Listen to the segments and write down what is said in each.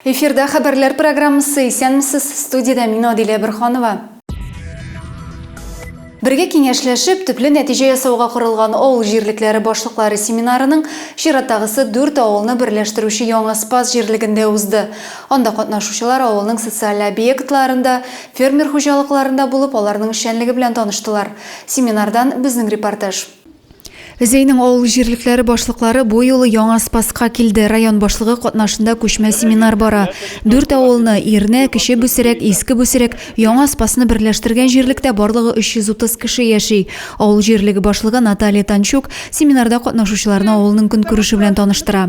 Эфирда хәбәрләр программасы исәнмесез студиядә мин Адилә Бирханова. Бергә киңәшләшеп, төпле нәтиҗә ясауга корылган авыл җирлекләре башлыклары семинарының чираттагысы дүрт авылны берләштерүче яңа Спас җирлегендә узды. Анда катнашучылар авылның социаль объектларында Фермер хуҗалыкларында булып, аларның эшчәнлеге белән таныштылар. Семинардан безнең репортаж. Зәйнең авыл җирлекләре башлыклары бу юлы яңа Спасска килде. Район башлыгы катнашында күчмә семинар бара. Дүрт авылны, Ирнә, Кече Бүсерәк, Иске Бүсерәк, Яңа Спасны берләштергән җирлектә барлыгы 330 кеше яши. Авыл җирлеге башлыгы Наталья Танчук семинарда катнашучыларны авылның көнкүреше белән таныштыра.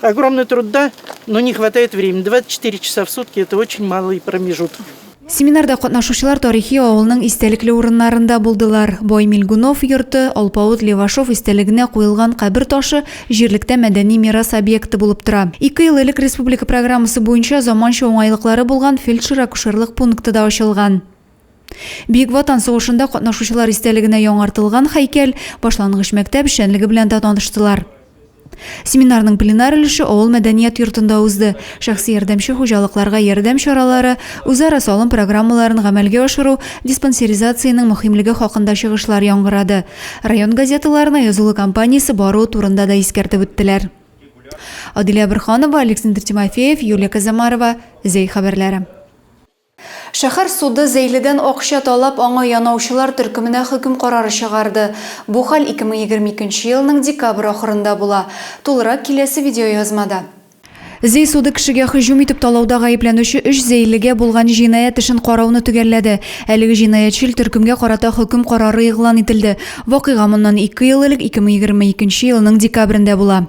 Огромный труд, да, но не хватает времени. 24 часа в сутки – это очень малый промежуток. Семинарда катнашучылар тарихи авылның истәлекле урыннарында булдылар. Бай Милгунов йорты, Алпавыт Левашов истәлегенә куелган кабер ташы җирлектә мәдәни мирас объекты булып тора. Ике ел элек республика программасы буенча заманча уңайлыклары булган фельдшер-акушерлык пункты да ачылган. Бөек Ватан сугышында катнашучылар истәлегенә яңартылган һәйкәл, башлангыч мәктәп эшчәнлеге белән дә таныштылар. Семинарның пленар өлеше авыл мәдәният йортында узды. Шәхси ярдәмче хуҗалыкларга ярдәм чаралары, үзара салым программаларын гамәлгә ашыру, диспансеризациянең мөһимлеге хакында чыгышлар яңгырады. Район газеталарына язылу кампаниясе баруы турында да искәртеп үттеләр. Адилә Борханова, Александр Тимофеев, Юлия Казамарова, Зәй хәбәрләре. Шәһәр суды Зәйледән акча талап, аңа янаучылар төркеменә хөкем карары чыгарды. Бу хәл 2022 нче елның декабрь ахырында була. Тулырак киләсе видеоязмада. Зәй суды кешегә һөҗүм итеп талауда гаепләнүче өч зәйлегә булган җинаять эшен карауны төгәлләде. Әлеге җинаятьчел төркемгә карата хөкем карары игълан ителде. Вакыйга моннан ике ел элек, 2022 нче елның декабрендә була.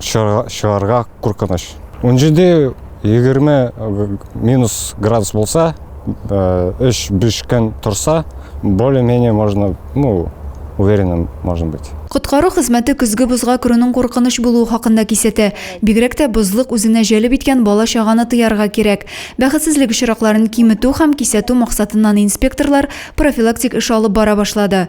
чыгарга куркыныч. Унҗиде, егерме минус градус булса, өч-биш көн торса, более-менее можно, ну, уверенным можно быть. Коткару хезмәте көзге бозга керүнең куркыныч булуы хакында кисәтә. Бигрәк тә бозлык үзенә җәлеп иткән бала-чаганы тыярга кирәк. Бәхетсезлек очракларын киметү һәм кисәтү максатыннан инспекторлар профилактик эш алып бара башлады.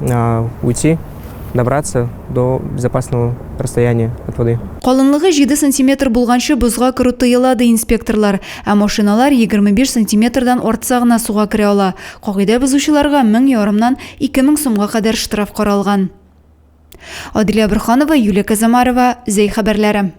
а, уйти, добраться до безопасного расстояния от воды. Калынлыгы 7 сантиметр булганчы бозга керү тыела, ди инспекторлар. Ә машиналар 25 сантиметрдан артса гына суга керә ала. Кагыйдә бозучыларга 1000 ярымнан 2000 сумга кадәр штраф каралган. Адилә Бурханова, Юлия Казамарова, Зәй хәбәрләре.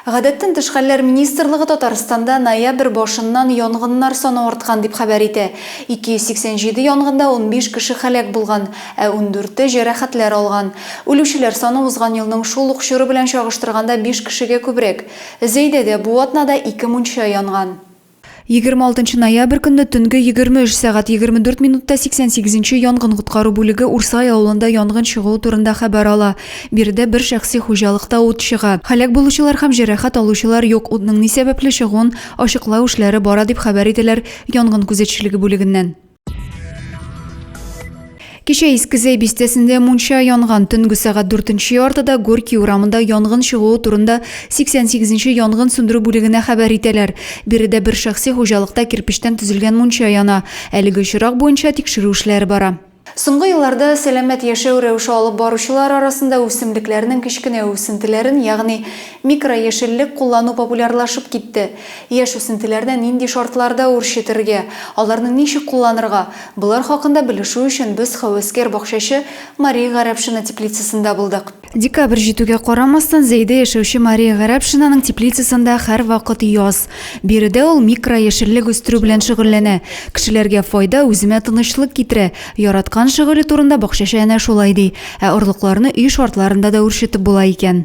Гадәттән тыш хәлләр министрлыгы Татарстанда ноябрь башыннан янгыннар саны арткан дип хәбәр итә. 287 янгында унбиш кеше һәлак булган, ә ундүрте җәрәхәтләр алган. Үлүчеләр саны узган елның шул ук чоры белән чагыштырганда биш кешегә күбрәк. Зәйдәдә бу атнада ике мунча янган. 26 ноябрь көнне төнге 23 сәгать 24 минутта 88 нче янгын коткару бүлеге Урсай авылында янгын чыгуы турында хәбәр ала. Биредә бер шәхси хуҗалыкта ут чыга. Һәлак булучылар һәм җәрәхәт алучылар юк, утның ни сәбәпле чыгуын ачыклау эшләре бара, дип хәбәр ителәр янгын күзәтчелеге бүлегеннән. Кичә Искезәй бистәсендә мунча янган. Төнге сәгать 4-нче яртыда Горький урамында янгын чыгуы турында 88-нче янгын сүндерү бүлегенә хәбәр итәләр. Биредә бер шәхси хуҗалыкта кирпечтән төзелгән мунча яна. Әлеге очрак буенча тикшерү эшләре бара. Соңгы елларда сәламәт яшәү рәвеше алып баручылар арасында үсемлекләрнең кечкенә үсентеләрен, ягъни микрояшеллек куллану популярлашып китте. Яшь үсентеләрне нинди шартларда үрчетергә, аларны ничек кулланырга, болар хакында белешү өчен без хәвәскәр-бакчачы Мария Гарәпшина теплицасында булдык. Декабрь җитүгә карамастан, Зәйдә яшәүче Мария Гарәпшинаның теплицасында һәрвакыт яз. Биредә ул микрояшеллек үстерү белән шөгыльләнә. Кешеләргә файда, үземә тынычлык китерә. Яраткан шөгыле турында бакчачы әнә шулай ди. Ә орлыкларны өй шартларында да үрчетеп була икән.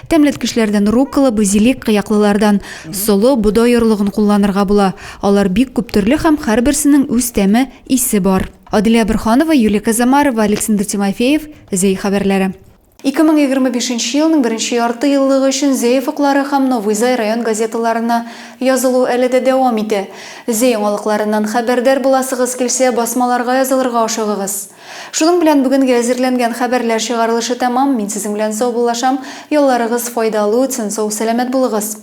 Тәмләткечләрдән руккола, базилик, кыяклылардан солы, бодай орлыгын кулланырга була. Алар бик күп төрле һәм һәрберсенең үз тәме, исе бар. Аделя Борһанова, Юлия Казамарова, Александр Тимофеев, Зәй хәбәрләре. 2025 нче елның беренче ярты еллыгы өчен Зәй офыклары һәм Новый Зай район газеталарына язылу әле дә дәвам итә. Зәй яңалыкларыннан хәбәрдар буласыгыз килсә, басмаларга язылырга ашыгыгыз. Шуның белән бүгенге әзерләнгән хәбәрләр чыгарылышы тәмам, мин сезнең белән саубуллашам, ялларыгыз файдалы үтсен, сау сәламәт булыгыз!